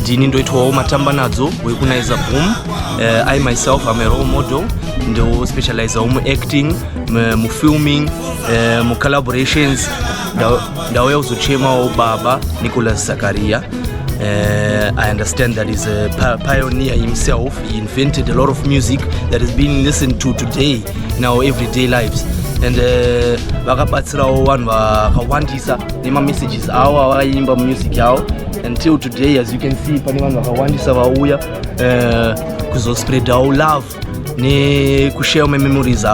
ndini ndoitwawo matamba nadzo wekunaiza boom uh, eh, i myself am a role model ndospecializawo muacting mufilming uh, eh, mucollaborations ndauya kuzochemawo baba nicolas zakaria Uh, I understand that he's a pioneer himself. He invented a lot of music that is being listened to today in our everyday lives. and eh, vakabatsirawo vanhu vakawandisa nemamessages avo avakaimba mumusiki avo until today as you can see pane vanhu vakawandisa vauya eh, kuzospreadawo love nekushare memories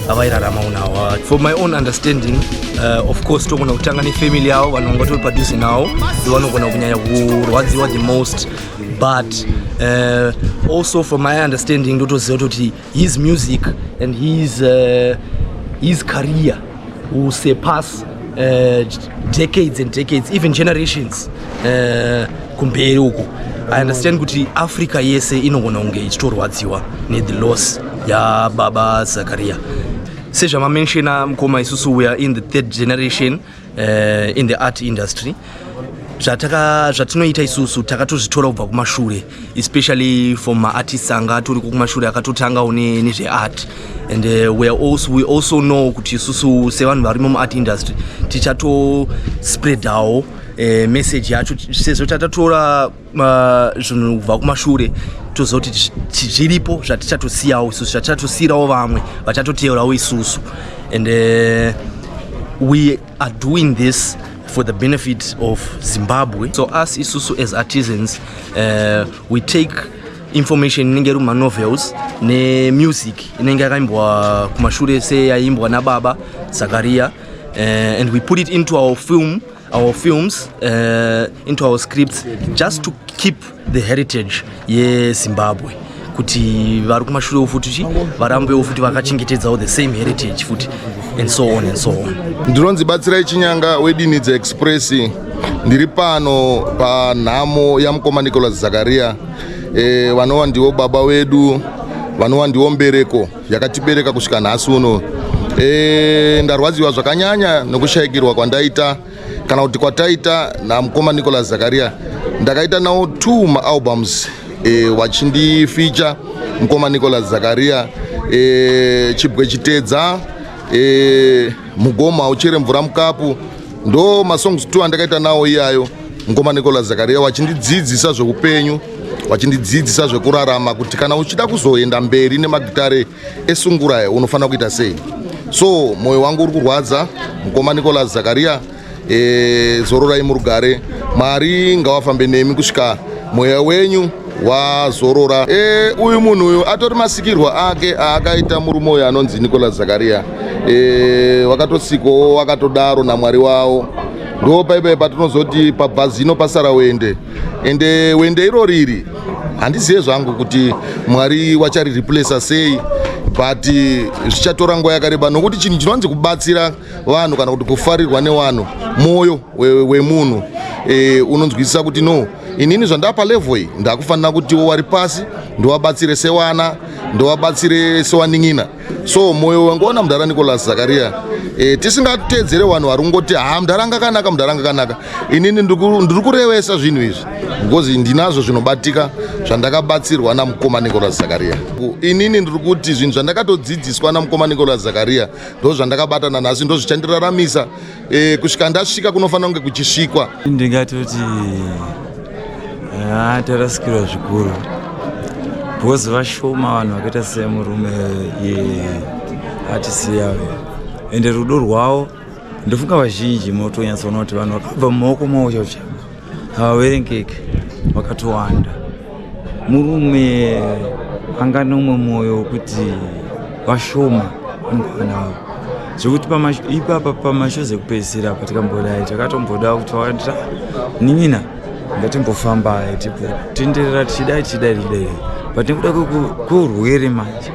avairarama unawa for my own understanding uh, of course togona kutanga nefamily yavo vanhu vanga tori padhuze nawo ndivanogona kunyanya kurwadziwa the most but uh, also for my understanding ndotoziva toti His music and his, uh, his career will surpass uh, decades and decades, even generations uh, kumberi uku. I understand kuti Africa yese inogona kunge ichitorwadziwa nethe loss yaBaba Zakaria. Sezvamamenshina mukoma isusu we are in the third generation uh, in the art industry zvataka zvatinoita isusu takatozvitora kubva kumashure especially for maartists anga atoriko kumashure akatotangawo nezveart and uh, we, also, we also know kuti isusu sevanhu varimo muart industry tichatospreadawo uh, message yacho sezvo tatatora zvinhu kubva kumashure toziva kuti zviripo zvatichatosiyawo isusu zvatichatosiyirawo vamwe vachatoteerawo isusu and uh, we are doing this for the benefit of zimbabwe so us isusu as artisans uh, we take information inenge iri mumanovels nemusic inenge yakaimbwa kumashure seyaimbwa nababa zakaria uh, and we put it into our film our films uh, into our scripts just to keep the heritage yezimbabwe kuti vari kumashure futi chi varambewo futi vakachengetedzawo the same heritage futi and so on and so on ndinonzi batsirai chinyanga wedinidza express ndiri pano panhamo yamukoma nicolas zakaria eh, vanova ndivo baba wedu vanova ndivo mbereko yakatibereka kusvika nhasi uno e, ndarwadziwa zvakanyanya nokushaikirwa kwandaita kana kuti kwataita namukoma nicolas zakaria ndakaita nawo two maalbums e, wachindificha mukoma nicolas zakaria e, chibwe chitedza e, mugoma uchere mvura mukapu ndo masongs two andakaita nawo iyayo Mukoma Nicholas Zakaria vachindidzidzisa zveupenyu vachindidzidzisa zvekurarama kuti kana uchida kuzoenda mberi nemagitare esungurae unofanira kuita sei so mwoyo wangu uri kurwadza mukoma nicolas zakaria e, eh, zororai murugare mwari ngawafambe nemi kusvika mweya wenyu wazorora e, uyu munhu uyu atori masikirwa ake aakaita murume uyu anonzi nicolas zakaria e, eh, wakatosikwawo wakatodaro namwari wavo ndo paipai patinozoti pabva zino pasara wende ende wende iro riri handizive zvangu kuti mwari wachari replacer sei but eh, zvichatora nguva yakareba nokuti chinhu chinonzi kubatsira vanhu kana kuti kufarirwa nevanhu mwoyo wemunhu e, unonzwisisa kuti no inini zvandapa level iyi ndakufanira kutiwo wari pasi ndowabatsire sewana ndowabatsire sewanin'ina so moyo wangu ona mudhara nicolas zakaria e, tisingateedzere vanhu vari kungoti ha mudhara anga kanaka mudhara anga kanaka inini ndiri kurevesa zvinhu izvi because ndinazvo zvinobatika zvandakabatsirwa namukoma nicolas zakaria inini ndiri kuti zvinhu zvandakatodzidziswa namukoma nicolas zakaria ndo zvandakabata nanhasi ndo zvichandiraramisa E, kusvika ndasvika kunofanira kunge kuchisvikwa. Ndingatoti ah, tarasikirwa zvikuru because vashoma vanhu vakaita semurume yeatisiya ende rudo rwavo ndofunga vazhinji motonyatsoona kuti vanhu vakabva mumaoko mawo chauchavo havaverengeki vakatowanda murume anga nomwe mwoyo wekuti vashoma mukana wavo zvekuti ipapa pamashozi ekupedzisira apa tikambodai takatomboda kuti vaita nin'ina ngatimbofamba tipo tenderera tichidai tichidai tichidai patinekuda kweurwere manje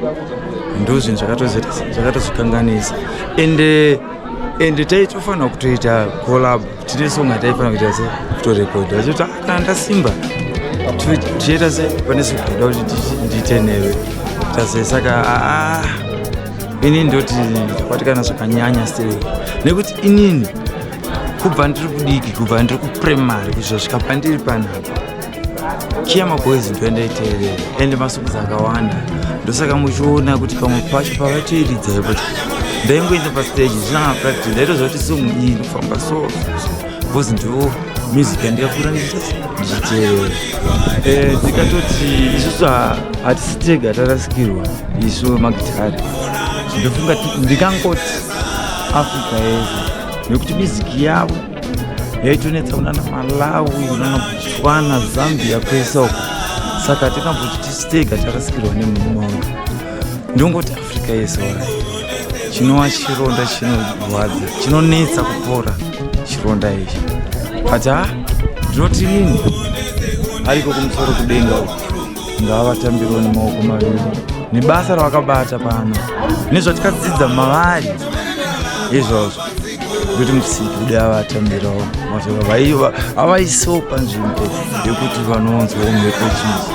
ndozvinhu zvakatozokanganisa ende ende taitofanira kutoita collab tine song yataifanira kuita se kutorekodha achiti ah, kana ndasimba tichiita se pane sikuda kuti ndiite newe tase saka aa inini ndoti ndakwatikana zvakanyanya still nekuti inini kubva ndiri kudiki kubva ndiri kuprimary kuzvosvika pandiri panapa chiya maboys ndoendaiteerera ende masongs akawanda ndosaka muchiona kuti pamwe pacho pavatoiridza yekuti ndaingoenda pastage zvinanga practice ndaitoziva kuti song iyi inofamba so bcause ndo music yandikakura ndichiteerera eh, ndikatoti isusu hatisi tega tarasikirwa isu magitari ndofunga ndikangoti africa yese nekuti miziki yavo yaitonetsa kunana malawi kunana botswana zambia kwese uko saka hatinambochi tisitega tarasikirwa nemurume wangu ndongoti africa yese orai chinova chironda chinorwadza chinonetsa kupora chironda ichi but ha ndinoti ini ariko kumusoro kudenga uko ngavatambirwa nemaoko maviri nebasa ravakabata pano nezvatikadzidza mavari izvozvo kuti musiki kudai avatambirawo mashoko avaiso panzvimbo yekuti vanonzwa mhepo chii